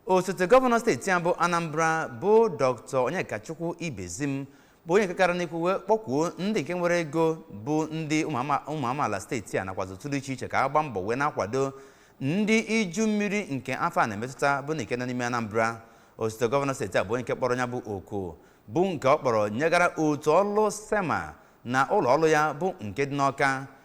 osote gọvanọ steeti a bụ anambra bụ dr onyekachukwu ibezim bụ onye nke kara n'ikwu wee kpọkwuo ndị nke nwere ego bụ ndị ụmụ amaala steeti a nakwazi otu dị iche iche ka a gbaa mbọ wee na-akwado ndị iju mmiri nke afọ a na-emetụta bụ ndị nke nọ n'ime anambra osote gọvanọ steeti a bụ onye nke kpọrọ ya bụ oku bụ nke ọ kpọrọ nyegara otu ọlụ sema na ụlọ ọrụ ya bụ nke dị n'ọka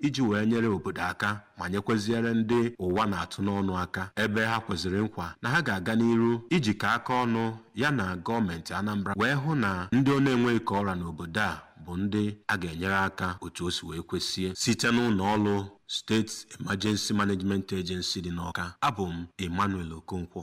iji wee nyere obodo aka ma nyekweziere ndị ụwa na-atụ n'ọnụ aka ebe ha kweziri nkwa na ha ga-aga n'iru ijikọ aka ọnụ ya na gọọmenti Anambra wee hụ na ndị ọ na-enweghị ka ọ ra n'obodo a bụ ndị a ga-enyere aka otu o si wee kwesie site n'ụlọ ọrụ State Emergency Management Agency dị n'Ọka abụ m Emmanuel Okonkwo